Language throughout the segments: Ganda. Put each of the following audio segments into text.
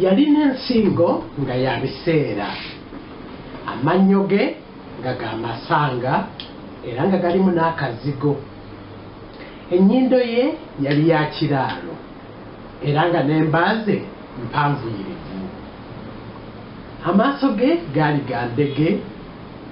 yalina ensingo nga ya biseera amannyo ge nga ga masanga era nga galimu n'akazigo ennyindo ye yali ya kiraalo era nga n'emba ze mpanvuyirivu amaaso ge gaali ga ndege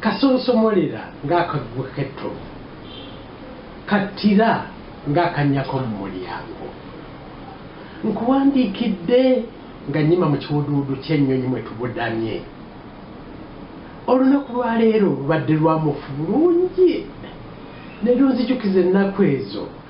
Kasonsomolera ng'akaggwa k'ettovu, kattira ng'akannya k'omu mulyango. Nkuwandiikidde nga nnyima mu kiwuduwudu ky'ennyonyi mwe tubudamye. Olunaku lwa leero lubadde lwa mufu bulungi ne lunzijukiza ennaku ezo.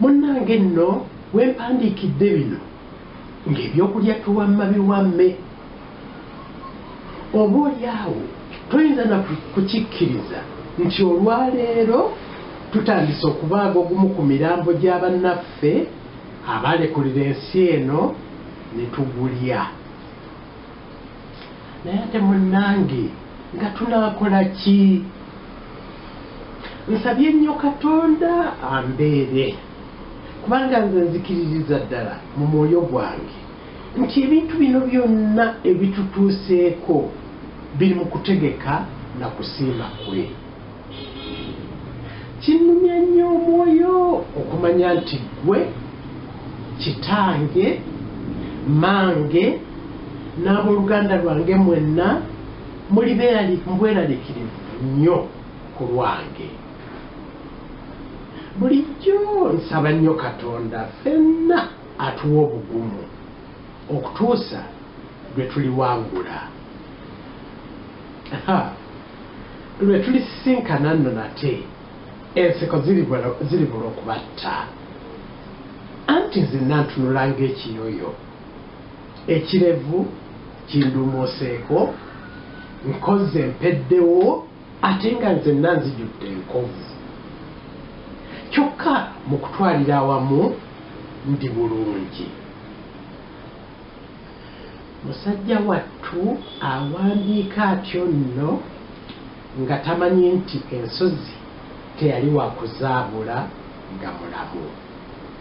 Munnange nno we mpandiikidde bino ng'ebyokulya tuwamma biwamme, oboolyawo toyinza na kukikkiriza nti olwaleero tutandise okubaaga ogumu ku mirambo gya bannaffe abaalekulira ensi eno ne tugulya. naye ate munange nga tunakola ki nsabye nnyo katonda ambeere kubanga nze nzikiririza ddala mu mwoyo gwange nti ebintu bino byonna ebitutuuseeko biri mu kutegeka na kusiima kwe Kinnumya nnyo omwoyo okumanya nti ggwe, kitange, mmange, n'ab'oluganda lwange mwenna muli bweraliikirivu nnyo ku lwange. Bulijjo nsaba nnyo Katonda ffenna atuwe obugumu okutuusa lwe tuliwangula. Ha! Lwe tulisisinkana nno nate, enseko ziribula okubatta. Anti nzenna ntunula ng'ekiyoyo, ekirevu kinduumuuseeko, nkozze mpeddewo ate nga nzenna nzijudde enkovu. Kyokka mu kutwalira awamu ndi bulungi. Musajja wattu awandiika atyo nno nga tamanyi nti ensozi teyali wa kuzaabula nga mulamu.